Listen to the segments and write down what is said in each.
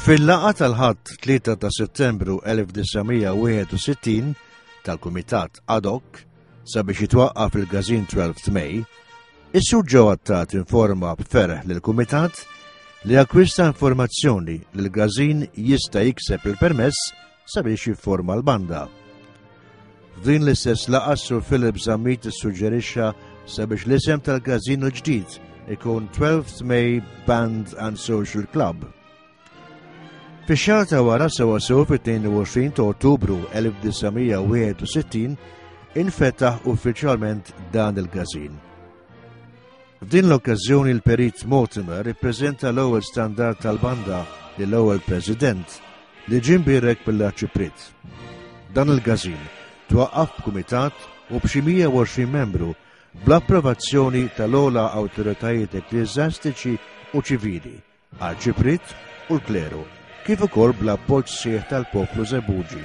Fil-laqa tal-ħadd 3 ta' settembru 1961 tal-Kumitat ad hoc sabiex jitwaqqaf il-Gazin 12 May, is-sur ġew attat informa b'ferħ lil kumitat li akkwista informazzjoni li l-Gazin jista' jikseb il-permess sabiex jifforma l-banda. F'din l-istess laqgħa Sir Philip Zammit issuġġerixxa sabiex l-isem tal-każino ġdid ikun 12th May Band and Social Club. Fix-xahar ta' wara sewa sew fit-22 ta' Ottubru 1961 infetaħ uffiċjalment dan il-każin. F'din l-okkażjoni l-Perit Mortimer ippreżenta l-ewwel standard tal-banda lill ewwel President li ġim birek mill-Arċiprit. Dan il-gazin twaqqaf b'kumitat u b'xi 120 membru bl-approvazzjoni tal-ola awtoritajiet ekklieżastiċi u ċivili Arċipriet u l-Kleru, kif ukoll bl-appoġġ sħiħ tal-poplu Żebbuġi.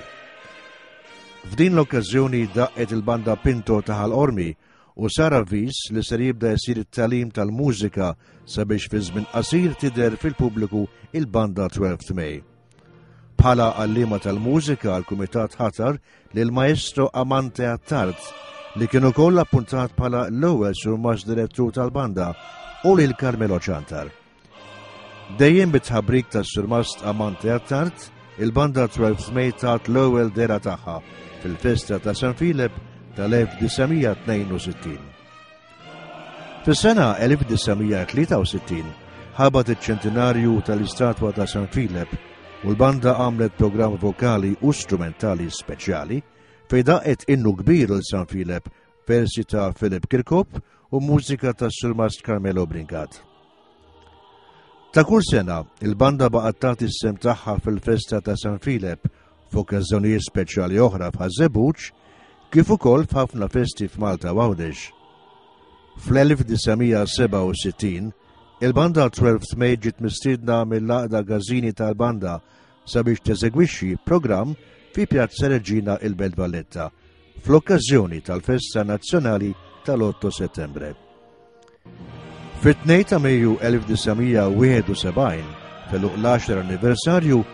F'din l-okkażjoni daqqet il-Banda Pinto ta' Ħal Qormi u sar avviż li ser jibda jsir it-tagħlim tal-mużika sabiex fi żmien qasir tidher fil-pubbliku il-Banda Twelfth May. Bħala għallima tal-mużika, l-Kumitat ħatar lil Maestro Amante Attard, li kien ukoll appuntat bħala l-ewwel surmax direttur tal-banda u lil Carmelo Ċantar. Dejjem bit-tħabrik tas-surmast Amante Attard, il-banda 12 May tat l-ewwel dera tagħha fil-festa ta' San Filip tal-1962. Fis-sena 1963 ħabat iċ-ċentinarju tal-istatwa ta' San Filep u l-banda għamlet programm vokali u strumentali speċjali fej daqet innu kbir il San Filep versi ta' Philip Kirkop u mużika ta' Surmast Carmelo Bringat. Ta' kull sena, il-banda baqgħet tagħti s-sem tagħha fil-festa ta' San Filep f'okkażżjonijiet speċjali oħra f'Ħaż-Żebbuġ kif ukoll f'ħafna festi f'Malta u Għawdex. Fl-1967, il-banda 12th May ġiet mistiedna mill-Għaqda Gażini tal-Banda sabiex teżegwixxi programm fi Pjazza Reġina il-Belt Valletta fl-okkażjoni tal-Festa Nazzjonali tal-8 Settembre. Fit-2 ta' Mejju 1971, feluq l-10 anniversarju,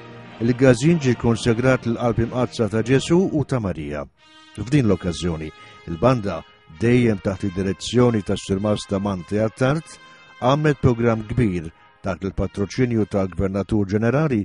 il-gazin ġi konsegrat l-qalb imqazza ta' Ġesu u ta' Marija. F'din l-okkażjoni, il-banda, dejjem taħt id-direzzjoni ta' Sirmas ta' Manti Attart, għammet programm kbir taħt il-patroċinju ta' Gvernatur Ġenerali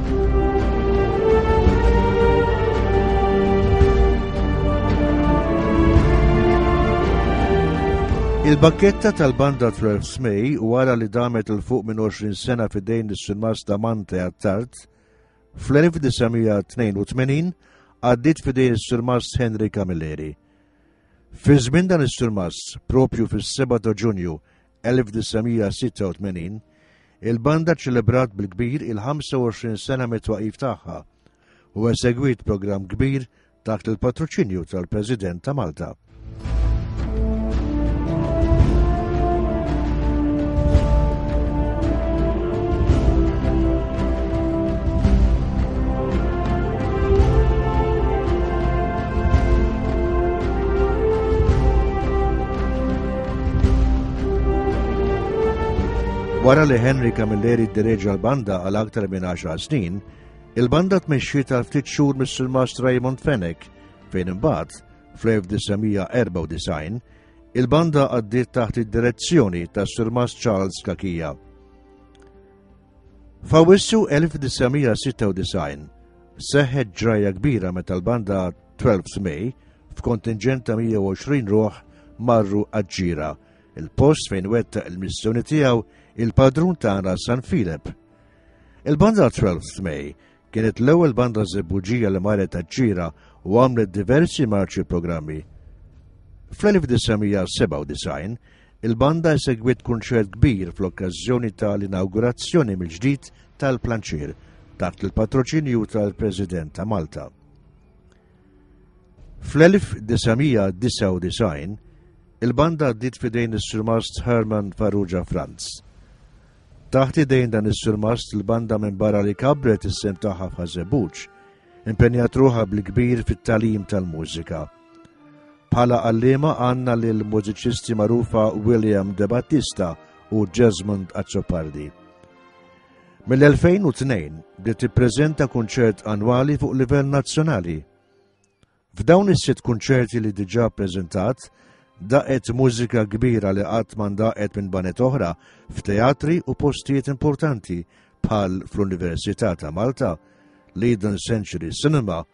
Il-bakketta tal-banda 12 Smej wara li damet il-fuq minn 20 sena fidejn is-sinmas ta' Mante għattart, fl-1982 għaddit fidejn is-sinmas Henry Camilleri. Fi żmien dan is-sinmas, propju fis-7 ta' Ġunju 1986, il-banda ċelebrat bil-kbir il-25 sena mit-twaqif tagħha u esegwit programm kbir taħt il-patroċinju tal-President ta' Malta. Wara li Henry Camilleri ddireġa l-banda għal aktar minn 10 snin, il-banda tmexxi tal ftit xhur mis-silmast Raymond Fennec fejn imbagħad fl-1994 il-banda għaddiet taħt id-direzzjoni tas silmast Charles Kakija. Fawissu 1996 seħħet ġraja kbira meta l-banda 12 May, f'kontinġent ta' 120 ruħ marru għaġġira, il-post fejn wetta il-missjoni tiegħu il-padrun tagħna San Filip. Il-banda 12 May kienet l-ewwel banda żebbuġija li marret għaġġira u għamlet diversi marċi programmi. Fl-1997, il-banda segwit kunċert kbir fl-okkażjoni tal-inaugurazzjoni mill-ġdid tal-planċir taħt il-patroċinju tal-President ta' Malta. Fl-1999, il-banda għaddiet fidejn is-surmast Herman Farrugia Franz. Taħt idejn dan is-surmast il-banda minn barra li kabret is-sem tagħha f'Ħażebuġ, impenjat ruħha bil-kbir fit-talim tal-mużika. Bħala għallima għanna li l-mużiċisti marufa William De Battista u Jesmond Azzopardi. Mill-2002 bdiet tippreżenta kunċert annwali fuq livell nazzjonali. F'dawn is-sitt kunċerti li diġà ppreżentat, daqet mużika kbira li qatt mandaqet minn banet oħra f'teatri u postijiet importanti bħal fl-Università ta' Malta, Leiden Century Cinema,